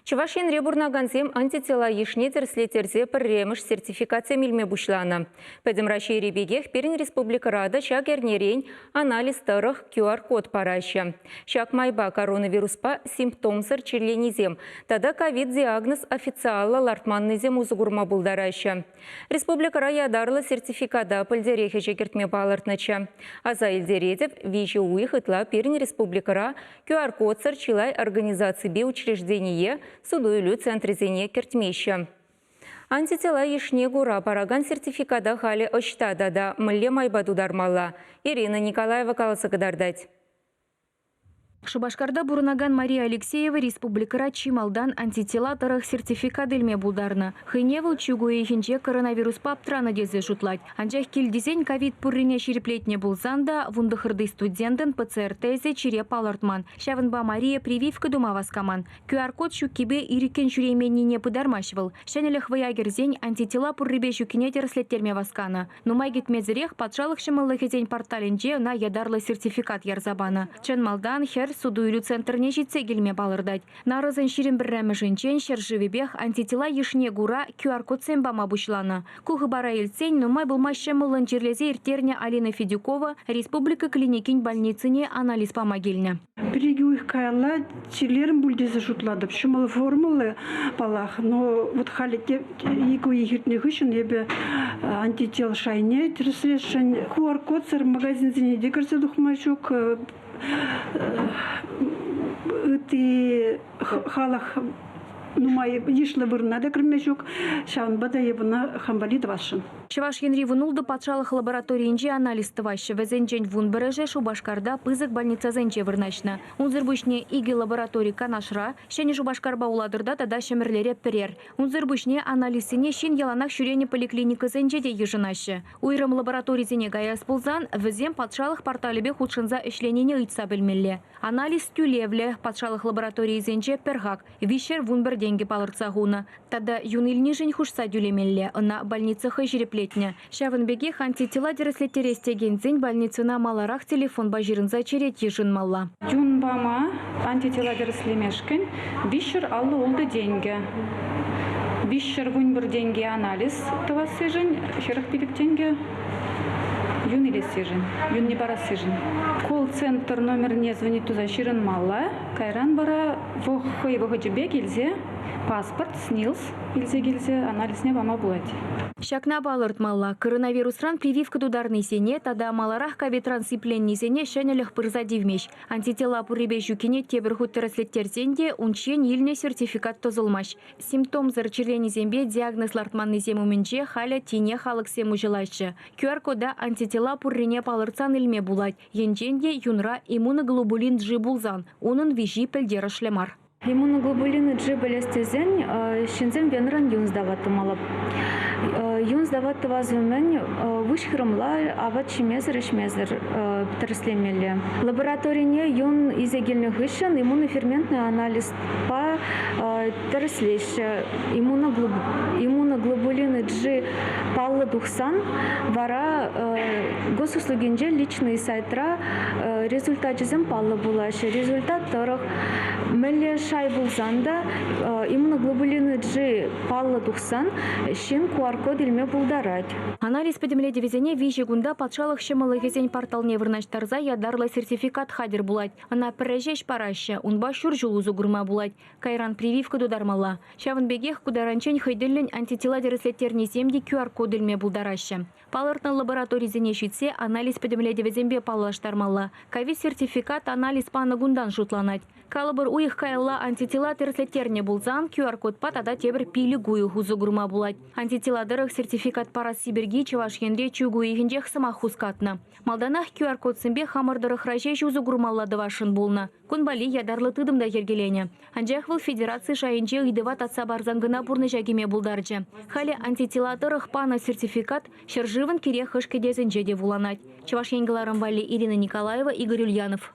Чӑваш Енре пурӑнакансем антитела йышне тӗрӗслеттерсе пӗрремӗш сертификатсем илме пуҫланӑ. Пӗтӗм Раҫҫейри пекех пирӗн республикӑра та ҫак эрнерен анализ тӑрӑх QR-код параҫҫӗ. Ҫак майпа коронавируспа симптомсӑр чирленисем тата ковид-диагноз официаллӑ лартманнисем усӑ курма пултараҫҫӗ. Республикӑра ятарлӑ сертификата пӗлтерех ӗҫе кӗртме палӑртнӑччӗ. Аса илтеретӗп, виҫӗ уйӑх ытла пирӗн республикӑра QR-кодсӑр чылай организаципе учреждение, суту-илӳ центрӗсене кӗртмеҫҫӗ. Антитела йышне кура паракан сертификата халӗ ӑҫта тата мӗнле майпа тутармалла? Ирина Николаева каласа кӑтартать. Шупашкарта пурӑнакан Мария Алексеева республикӑра чи малтан антитела тӑрӑх сертификат илме пултарнӑ. Хӑйне вӑл чӳк уйӑхӗнче коронавируспа аптранӑ тесе шутлать. Анчах кил тесен ковид пуррине ҫирӗплетнӗ пулсан та вунтӑхӑрти студентӑн ПЦР-тесӗ чире палӑртман. Ҫавӑнпа Мария прививка тума васкаман. QR-код ҫуккипе ирӗккӗн ҫӳрейменнине пытармасть вӑл. Ҫӗнӗлӗх вӑя кӗрсен антитела пуррипе ҫуккине тӗрӗслеттерме васканӑ. Нумай кӗтмесӗрех патшалӑх ҫӑмӑллӑхӗсен порталӗнче ӑна ятарлӑ сертификат ярса панӑ. Чӑн малтан хӗр суту-илӳ центрне ҫитсе килме палӑртать. Нарӑсӑн ҫирӗм пӗрремӗшӗнчен ҫӗршывӗпех антитела йышне кура QR-кодсем пама пуҫланӑ. Ку хыпара илтсен нумай пулмасть ҫӑмӑллӑн чирлесе ирттернӗ Алина Федюкова республика клиникин больницине анализ пама килнӗ. Пӗр-икӗ уйӑх каялла чирлерӗм пуль тесе шутлатӑп. Ҫӑмӑл формӑллӑ паллах, но вот халӗ те икӗ уйӑх иртнӗ хыҫҫӑн эпӗ антител шайне тӗрӗслесшӗн. QR-кодсӑр магазинсене те кӗрсе тухма ҫук ытти халӑх нумай йышлӑ вырӑна та кӗрме ҫук. Ҫавӑнпа та евуна хам валли тӑвасшӑн. Чӑваш Енри вунултӑ патшалӑх лабораторийӗнче анализ тӑваҫҫӗ. Вӗсенчен вун пӗрӗшӗ Шупашкарта пысӑк больницӑсенче вырнаҫнӑ. Унсӑр пуҫне икӗ лаборатори Канашра, Ҫӗнӗ Шупашкарпа Улатӑрта тата Ҫӗмӗрлере пӗрер. Унсӑр пуҫне анализсене ҫын яланах ҫӳренӗ поликлиникӑсенче те йышӑнаҫҫӗ. Уйрӑм лабораторисене каяс пулсан, вӗсем патшалӑх порталӗпе хутшӑнса ӗҫленине ыйтса пӗлмелле. Анализ тӳлевлӗ, патшалӑх лабораторийӗсенче пӗр хак – виҫшер-вун пӗр тенкӗ палӑртса хунӑ. Тата юн илнишӗн хушса тӳлемелле, ӑна больница хӑй ҫирӗплетнӗ. Ҫавӑн пекех антитела тӗрӗслеттерес текенсен больницӑна маларах телефонпа ҫырӑнса черет йышӑнмалла. Юн пама антитела тӗрӗслемешкӗн виҫҫӗр аллӑ-ултӑ тенкӗ, виҫҫӗр-вун пӗр тенкӗ анализ тӑвассишӗн хӗрӗх пилӗк тенкӗ юн илессишӗн, юнне парассишӗн. Колл-центр номерне звонить туса ҫырӑнмалла. Кайран вара хӑй вӑхӑчӗ пек илсе паспорт, СНИЛС илсе килсе анализне пама пулать. Ҫакна палӑртмалла, коронавирусран прививка тутарнисене тата маларах ковидран сипленнисене ҫӗнӗлӗх пырса тивмест. Антителла пуррипе ҫуккине тепӗр хут тӗрӗслеттерсен те унччен илнӗ сертификат тӑсӑлмасть. Симптомсӑр чирленисемпе диагноз лартманнисем умӗнче халӗ тинех алӑксем уҫӑлаҫҫӗ. QR-кода антитела пуррине палӑртсан илме пулать. Енчен те юнра иммуноглобулин G пулсан, унӑн виҫи пӗлтерӗшлӗ мар. Иммуноглобулин G пӗлес тесен ҫынсем венран юн сдава тумалла. Юн сдава тӑвас умӗн выҫ хырӑмла апат ҫимесӗр-ӗҫмесӗр тӗрӗслемелле. Лабораторине юн илсе килнӗ хыҫҫӑн иммуноферментный анализ тӗрӗслеҫҫӗ. Иммуноглобулины G паллӑ тухсан вара госуслугинче личный сайтра результачӗсем паллӑ пулаҫҫӗ. Результат тӑрӑх мӗнле шай пулсан та иммуноглобулины G паллӑ тухсан ҫын QR-код илме пултарать. Анализ пӗтӗмлетӗвӗсене виҫӗ кунта патшалӑх ҫӑмӑллӑхӗсен порталне вырнаҫтарса ятарлӑ сертификат хатӗр пулать. Ӑна пӗрре ҫеҫ параҫҫӗ, унпа ҫур ҫул усӑ курма пулать. Кайран прививка тутармалла. Ҫавӑн пекех ку таранччен хӑй тӗллӗн антитела тӗрӗслеттернисем те QR-код илме пултараҫҫӗ. Палӑртнӑ лабораторисене ҫитсе анализ пӗтӗмлетӗвӗсемпе паллаштармалла. Ковид-сертификат анализ панӑ кунтан шутланать. Калӑпӑр, уйӑх каялла антитела тӗрӗслеттернӗ пулсан QR-кодпа тата тепӗр пилӗк уйӑх усӑ курма пулать. Антитела тӑрӑх сертификат парасси пирки Чӑваш Енре чӳк уйӑхӗнчех сӑмах хускатнӑ. Малтанах QR-кодсемпе хамӑр тӑрӑхра ҫеҫ усӑ курмалла тӑвасшӑн пулнӑ. Кун валли ятарлӑ тытӑм та йӗркеленӗ. Анчах вӑл федераци шайӗнче ыйтӑва татса парсан кӑна пурнӑҫа кӗме пултарчӗ. Халӗ антитела тӑрӑх панӑ сертификат ҫӗршывӑн кирек хӑш кӗтесӗнче те вуланать. Чӑваш Ен кӑларӑм валли Ирина Николаева, Игорь Ульянов.